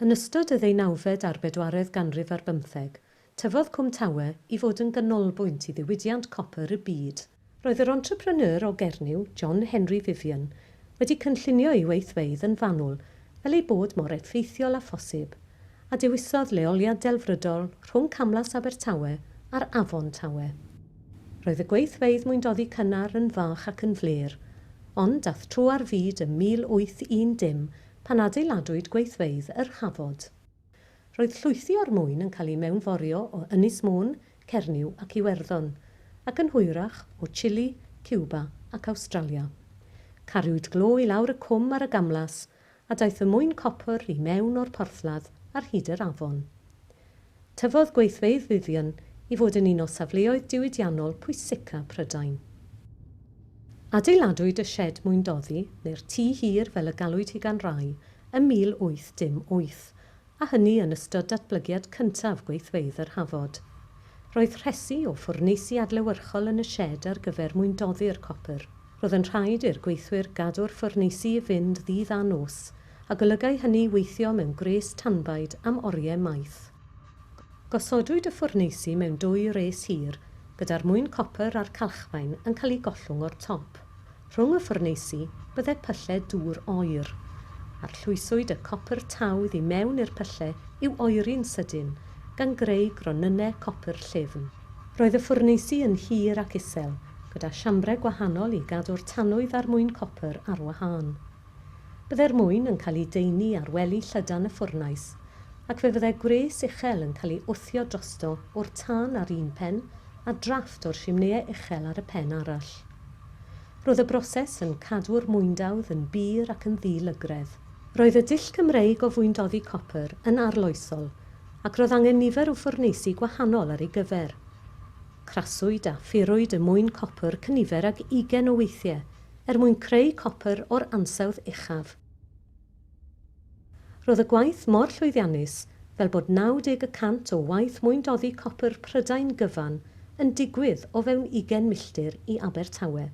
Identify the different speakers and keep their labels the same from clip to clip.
Speaker 1: Yn ystod y ddeunawfed a'r bedwaredd ganrif ar bymtheg, tyfodd Cwm Tawe i fod yn ganolbwynt i ddiwydiant copr y byd. Roedd yr entrepreneur o Gernyw, John Henry Vivian, wedi cynllunio ei weithfeydd yn fanwl fel ei bod mor effeithiol â phosib, a dewisodd leoliad delfrydol rhwng Camlas Abertawe a'r Afon Tawe. Roedd y gweithfeydd mwyndoddi cynnar yn fach ac yn flêr, ond dath tro ar fyd ym 1810 pan adeiladwyd gweithfeydd yr Hafod. Roedd llwythi o'r mwyn yn cael eu mewnforio o Ynys Môn, Cernyw ac Iwerddon, ac yn hwyrach o Chile, Cuba ac Awstralia. Cariwyd glo i lawr y cwm ar y gamlas, a daeth y mwyn copr i mewn o'r porthladd ar hyd yr afon. Tyfodd gweithfeydd Vivian i fod yn un o safleoedd diwydiannol pwysica Prydain. Adeiladwyd y sied mwyndoddi, neu'r tŷ hir fel y galwyd hi gan rai, ym 1808, a hynny yn ystod datblygiad cyntaf gweithfeydd yr Hafod. Roedd rhesi o ffwrneisi adlewyrchol yn y sied ar gyfer mwyndoddi'r copr. Roedd yn rhaid i'r gweithwyr gadw'r ffwrneisi i fynd ddydd a nos, a golygai hynny weithio mewn gwres tanbaid am oriau maith. Gosodwyd y ffwrneisi mewn dwy res hir, gyda'r mwyn copr a'r calchfaen yn cael eu gollwng o'r top. Rhwng y ffwrneisi, bydde pyllau dŵr oer. Arllwyswyd y copr tawdd i mewn i'r pyllau i'w oeri'n sydyn, gan greu gronynnau copr llyfn. Roedd y ffwrneisi yn hir ac isel, gyda siambrau gwahanol i gadw'r tanwydd a'r mwyn copr ar wahân. Byddai'r mwyn yn cael ei deunu ar wely llydan y ffwrnais, ac fe fyddai gwres uchel yn cael ei wthio drosto o'r tân ar un pen a drafft o'r simnëau uchel ar y pen arall. Roedd y broses yn cadw'r mwyndawdd yn bur ac yn ddi-lygredd. Roedd y dull Cymreig o fwyndoddi copr yn arloesol ac roedd angen nifer o ffwrneisi gwahanol ar ei gyfer. Craswyd a phurwyd y mwyn copr cynifer ag ugain o weithiau er mwyn creu copr o'r ansawdd uchaf. Roedd y gwaith mor llwyddiannus fel bod 90 y cant o waith mwyndoddi copr Prydain gyfan yn digwydd o fewn ugain milltir i Abertawe.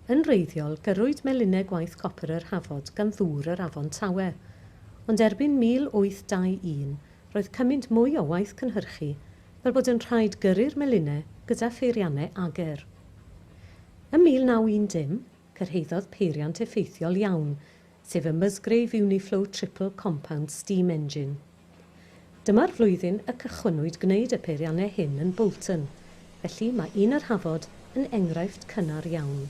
Speaker 1: Yn wreiddiol, gyrrwyd melinau gwaith copr yr Hafod gan ddŵr yr Afon Tawe, ond erbyn 1821 roedd cymaint mwy o waith cynhyrchu fel bod yn rhaid gyrru'r melinau gyda pheiriannau ager. Ym 1910, cyrhaeddodd peiriant effeithiol iawn, sef y Musgrave Uniflow Triple Compound Steam Engine. Dyma'r flwyddyn y cychwynnwyd gwneud y peiriannau hyn yn Bolton, felly mae un yr Hafod yn enghraifft cynnar iawn.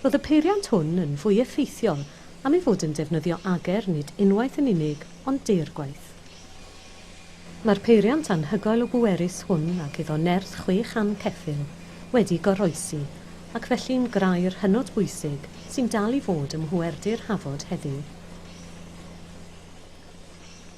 Speaker 1: Roedd y peiriant hwn yn fwy effeithiol am ei fod yn defnyddio ager nid unwaith yn unig ond deirgwaith. Mae'r peiriant anhygoel o bwerus hwn ac iddo nerth chwe chan ceffyl wedi goroesi ac felly'n grair hynod bwysig sy'n dal i fod ym mhwerdy'r Hafod heddiw.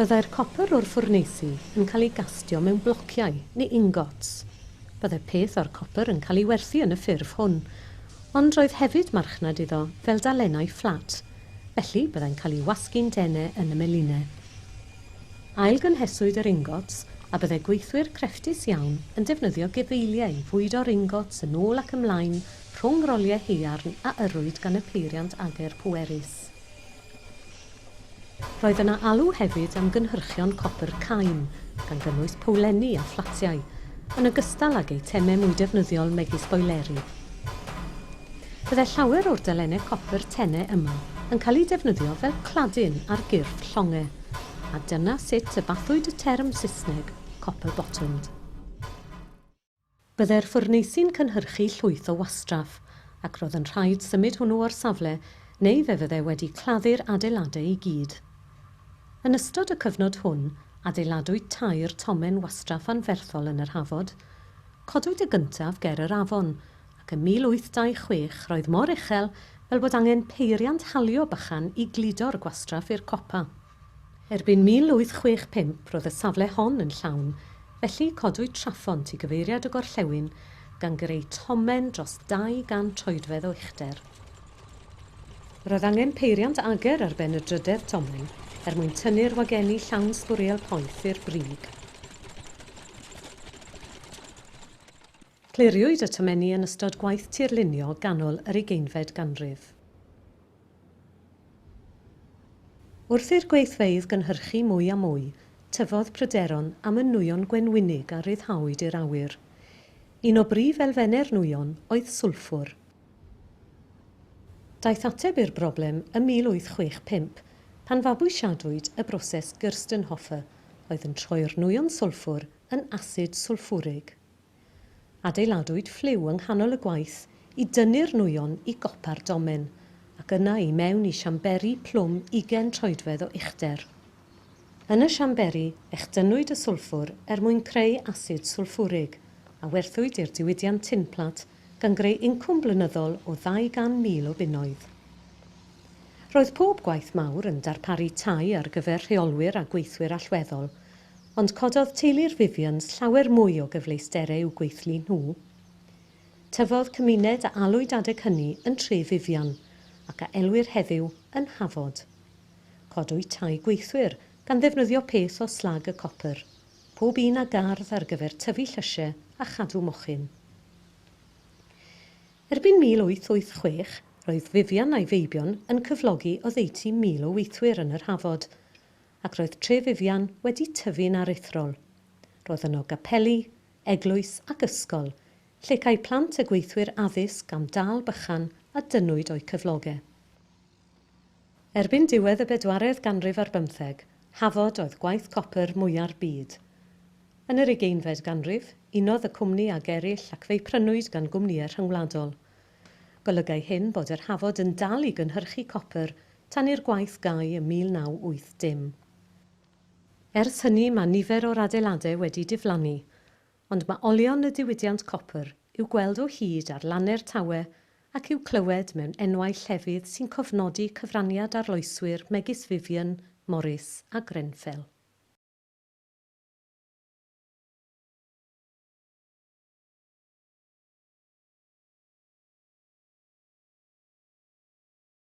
Speaker 1: Byddai'r copr o'r ffwrneisi yn cael ei gastio mewn blociau neu ingots. Byddai peth o'r copr yn cael ei werthu yn y ffurf hwn, ond roedd hefyd marchnad iddo fel dalennau fflat, felly byddai'n cael ei wasgu'n dene yn y meline. Ailgynheswyd yr ingots a byddai gweithwyr crefftus iawn yn defnyddio gefeiliau i fwydo'r ingots yn ôl ac ymlaen rhwng roliau haearn a yrrwyd gan y peiriant ager pwerus. Roedd yna alw hefyd am gynhyrchion copr cain, gan gynnwys powlenni a phlatiau, yn ogystal ag eitemau mwy defnyddiol megis boeleri. Byddai llawer o'r delennau copr tenau yma yn cael eu defnyddio fel cladin ar gyrff llongau, a dyna sut y bathwyd y term Saesneg 'copper-bottomed'. Byddai'r ffwrneisi'n cynhyrchu llwyth o wastraff, ac roedd yn rhaid symud hwnnw o'r safle neu fe fyddai wedi claddu'r adeiladau i gyd. Yn ystod y cyfnod hwn, adeiladwyd tair tomen wastraff anferthol yn yr Hafod. Codwyd y gyntaf ger yr afon, ac ym 1826 roedd mor uchel fel bod angen peiriant halio bychan i gludo'r gwastraff i'r copa. Erbyn 1865 roedd y safle hon yn llawn, felly codwyd trafont i gyfeiriad y gorllewin, gan greu tomen dros 200 troedfedd o uchder. Roedd angen peiriant ager ar ben y drydedd tomen er mwyn tynnu'r wagenni llawn sbwriel poeth i'r brig. Cliriwyd y tomenni yn ystod gwaith tirlunio ganol yr ugeinfed ganrif. Wrth i'r gweithfeydd gynhyrchu mwy a mwy, tyfodd pryderon am y nwyon gwenwynig a ryddhawyd i'r awyr. Un o brif elfennau'r nwyon oedd swlffwr. Daeth ateb i'r broblem ym 1865, pan fabwysiadwyd y broses Gerstenhofer, oedd yn troi'r nwyon swlffwr yn asid swlffwrig. Adeiladwyd ffliw yng nghanol y gwaith i dynnu'r nwyon i gopa'r domen, ac yna i mewn i siamberi plwm ugain troedfedd o uchder. Yn y siamberi, echdynnwyd y swlffwr er mwyn creu asid swlffwrig, a werthwyd i'r diwydiant tinplat gan greu incwm blynyddol o 200,000 o bunnoedd. Roedd pob gwaith mawr yn darparu tai ar gyfer rheolwyr a gweithwyr allweddol, Ond cododd teulu'r Vivians llawer mwy o gyfleusterau i'w gweithlu nhw. Tyfodd cymuned a alwyd adeg hynny yn Tre Vivian, ac a elwir heddiw yn Hafod. Codwyd tai gweithwyr gan ddefnyddio peth o slag y copr, pob un â gardd ar gyfer tyfu llysiau a chadw mochyn. Erbyn 1886, roedd Vivian a'i feibion yn cyflogi oddeutu mil o weithwyr yn yr Hafod, ac roedd Tre Vivian wedi tyfu'n aruthrol. Roedd yno gapeli, eglwys ac ysgol, lle câi plant a gweithwyr addysg am dâl bychan a dynnwyd o'u cyfloge. Erbyn diwedd y bedwaredd ganrif ar bymtheg, Hafod oedd gwaith copr mwya'r byd. Yn yr ugeinfed ganrif, unodd y cwmni ag eraill ac fe'i prynwyd gan gwmnïau rhyngwladol. Golygai hyn bod yr Hafod yn dal i gynhyrchu copr tan i'r gwaith gau ym 1980. Ers hynny mae nifer o'r adeiladau wedi diflannu, ond mae olion y diwydiant copr i'w gweld o hyd ar lannau'r Tawe ac i'w clywed mewn enwau llefydd sy'n cofnodi cyfraniad arloeswyr megis Vivian, Morris a Grenfell.